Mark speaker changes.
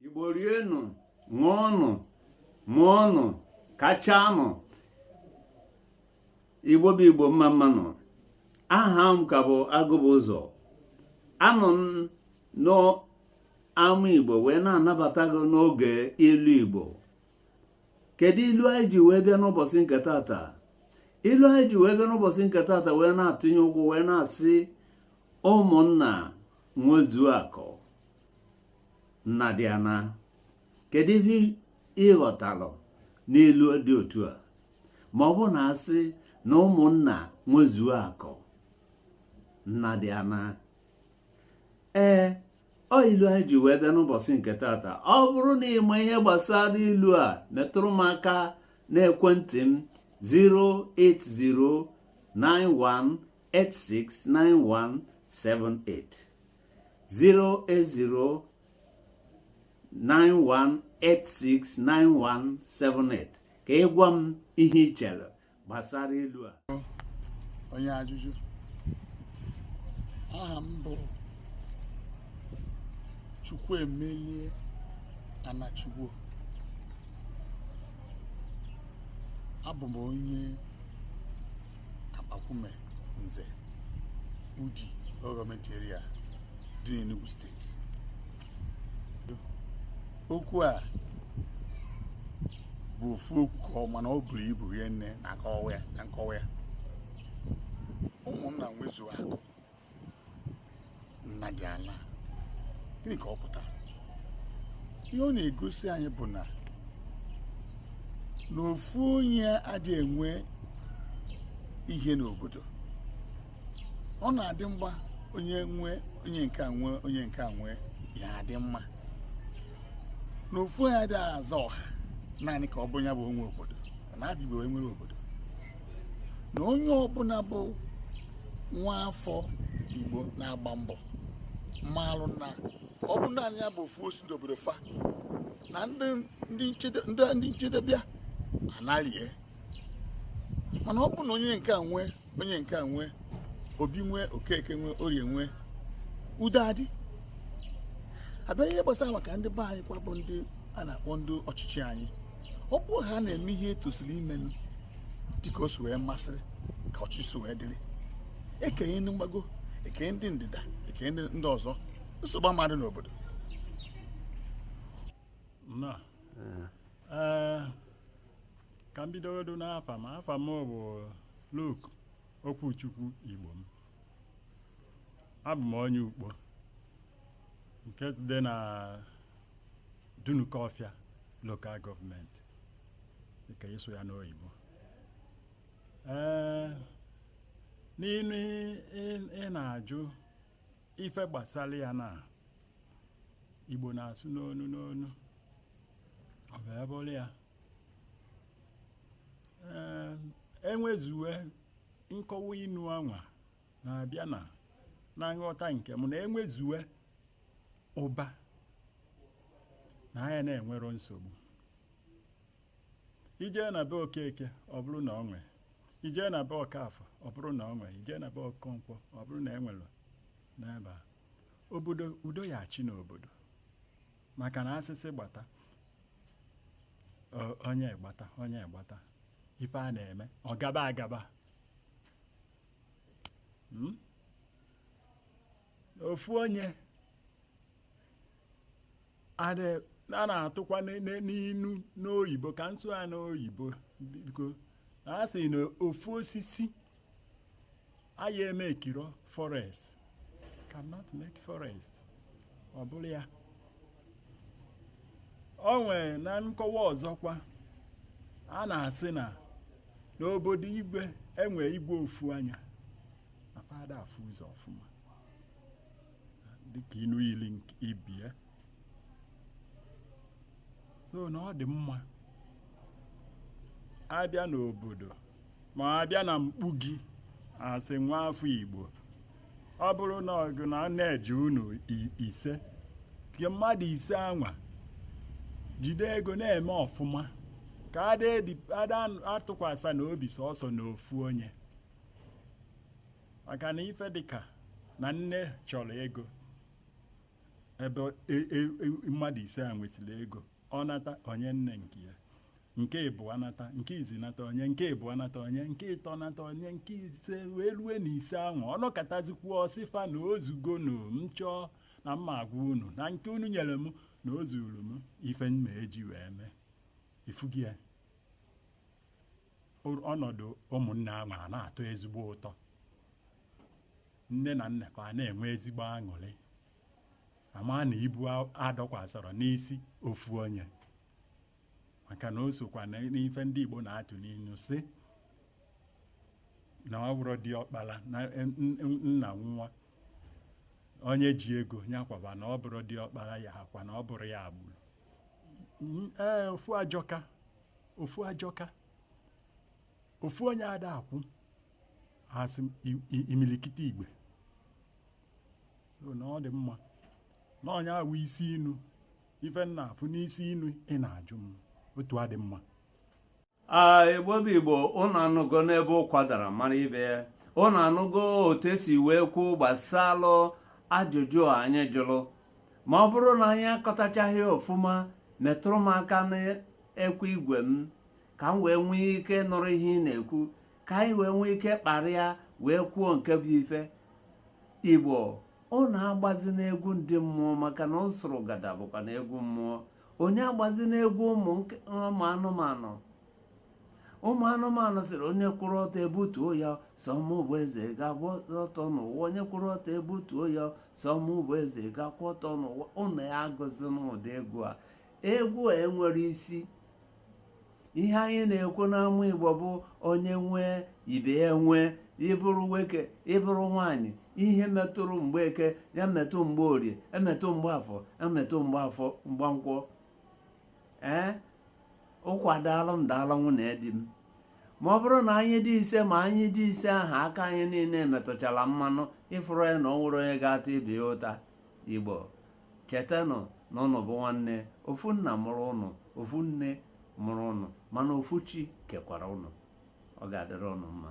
Speaker 1: igbo rienụ ṅụọnụ mụọnụ kachanụ igbo bụ igbo mma mmanụ aha m ka bụ Agụbụzọ anọ m n'ama igbo wee na-anabata gị n'oge ilu igbo kedu ilu anyị ji wee bịa n'ụbọsị nke tata ilu anyị ji wee bịa n'ụbọsị nke tata wee na-atụnye ụkwụ wee na-asị ụmụnna nwezuo akụ nna dị ana kedu ihe ị ghọtalụ n'ilu dị otu a ma ọ bụ na a sị na ụmụnna nwezuo akụ nna dị ana ee ọ ilu anyị ji wee bịa n'ụbọsị nke tata ọ bụrụ na ị ma ihe gbasara ilu a metụrụ m aka n'ekwentị m 08091869178 08091869178 ka ị gwa m ihe ị chere gbasara ilu a
Speaker 2: onye ajụjụ aha m bụ Chukwuemelie Anachigbo abụ m onye Akpakwume Nze Udi gọọmenti area dị n'Enugu steeti okwu a bụ ofu okwu ka ọ mana o buru ibu rie nne na ka na nkọwa ya ụmụnna nwezuo akụ nna dị ana gịnị ka ọ pụtara ihe ọ na-egosi anyị bụ na na ofu onye adịghị enwe ihe n'obodo ọ na-adị mma onye onye nke a nwee onye nke a nwee ya adị mma na ofu onye adịghị aza ọha naanị ka ọ bụrụ ya bụ o nwe obodo na adịbe onye nwere obodo na onye ọbụla bụ nwa afọ igbo na-agba mbọ maalụ na ọ bụrụ naanị ya bụ ofu osi n'obodo fa na ndị nchede bịa anarie mana ọ bụ na onye nke a nwee onye nke a nwee Obi nwee Okeke nwee Orie nwee udo adị a bịa ihe gbasara maka ndị be anyị kwa bụ ndị a na-akpọ ndị ọchịchị anyị ọ bụrụ ha na-eme ihe e tosiri imenụ dịka o si wee masịrị ka ọchịchị si wee dịrị e kenye ndị mgbago e kenye ndị ndịda e kenye ndị ọzọ nsogbu ama adị n'obodo na
Speaker 3: ee ka m bidogodo n'afa m afa m bụ Luke Okwuchukwu Igbom abụ m onye Ukpo nke dị na Dunukọfịa local government dịka ị sụ ya n'oyibo ee n'inu ị na-ajụ ife gbasara ya na igbo na-asụ n'onu n'onu ọ bụ ebe ọrụ ya Ee, enwezuwe nkọwa inu anwa na-abịa na na nghọta nke m na enwezuwe ụba na anya na enwero nsogbu i jee na be Okeke ọ bụrụ na o nwee i jee na be Okafọ ọ bụrụ na o nwee i jee na be Okonkwọ ọ bụrụ na e nwere n'ebe a obodo udo ya-achị n'obodo maka na a sị sị gbata onye gbata onye gbata ife a na-eme ọ gaba agaba hmm? ofu onye a na-atụkwa n'inu n'oyibo ka m sụa n'oyibo biko a sị na ofu osisi aya emekiro forest cannot make forest ọ bụrụ ya o nwee na nkọwa ọzọkwa a na-asị na n'obodo igwe enwe igwe ofu anya na fa ada afụ ụzọ ọfụma dịka inu yili ibie so na ọ dị mma a bịa n'obodo ma a bịa na mkpuke a sị nwa afọ igbo ọ bụrụ na ọgụ na a na-eji unu i- ise ka mmadụ ise anwa jide ego na-eme ọfụma ka ada edi- ada atụkwasa na obi sọsọ na ofu onye maka na ife dịka na nne chọrọ ego ebe e, e, e, mmadụ ise a nwesịrị ego ọ nata onye nne nke ya nke ịbụa nata nke izi nata onye nke ịbụa nata onye nke ịtọ nata onye nke ise wee rue na ise ahụ ọ nakọtazikwu ọ sị fa na o zugo na m chọọ na m ma-agwa unu na nke unu nyere m na o zuru m ife m ma-eji wee mee ị fụgo ya ọnọdụ ụmụnne ahụ a na-atọ ezigbo ụtọ nne na nna ka a na-enwe ezigbo aṅụrị a ma na ibu adọkwasịrọ n'isi ofu onye maka na o sokwa n'ife ndị Igbo na-atụ n'inu sị na ọ bụrọ diọkpala na e, nna nwụa onye ji ego nya kwaba na ọ bụrọ diọkpala ya akwa na ọ bụrọ ya gburu ee ofu ajọka ofu ajọka ofu onye ada akwụ a sị imilikiti igbe so na ọ dị mma na onye awụ isi inu ife m na-afụ n'isi inu ị na-ajụ m otu adị
Speaker 1: mma igbo bụ igbo ụnụ anụgo n'ebe ụkwa dara mara ibe ya ụnụ anụgo otu e si wee kwuo gbasalụ ajụjụ a anyị jụrụ ma ọ bụrụ na anyị akọtachaghị ọfụma metụrụ m aka ekwe igwe m ka m wee nwee ike nụrụ ihe ị na-ekwu ka anyị wee nwee ike kparịa wee kwuo nke bụ ife igbo ụnụ agbazina egwu ndị mmụọ maka na usurugada bụkwanụ egwu mmụọ onye agbazina egwu ụmụ anụmanụ ụmụ anụmanụ sịrị onye kwụrụ ọtọ e butuo ya sọ mụ bụ eze ga-agba ọtọ n'ụwa onye kwụrụ ọtọ e butuo ya sọ mụ bụ eze ga-akwụ ọtọ n'ụwa ụnụ ya agụzina ụdị egwu a egwu a enwerọ isi ihe anyị na-ekwu n'ama igbo bụ onye nwee ibe ya nwee ị bụrụ nwoke ị bụrụ nwaanyị ihe metụrụ mgbeke ya metụ mgborie emetụ mgbafọ emetụ mgbafọ mgbankwọ ee ụkwa daalụ m daalụ nwunye di m ma ọ bụrụ na anyị dị ise ma anyị dị ise ahụ aka anyị niile metụchara mmanụ ị fụrụ ya na o nwerọ onye ga-ata ibe ya ụta igbo chetanụ na ụnụ bụ nwanne ofu nna mụrụ ụnụ ofu nne mụrụ ụnụ mana ofu chi kekwara ụnụ ọ ga-adịrị ụnụ mma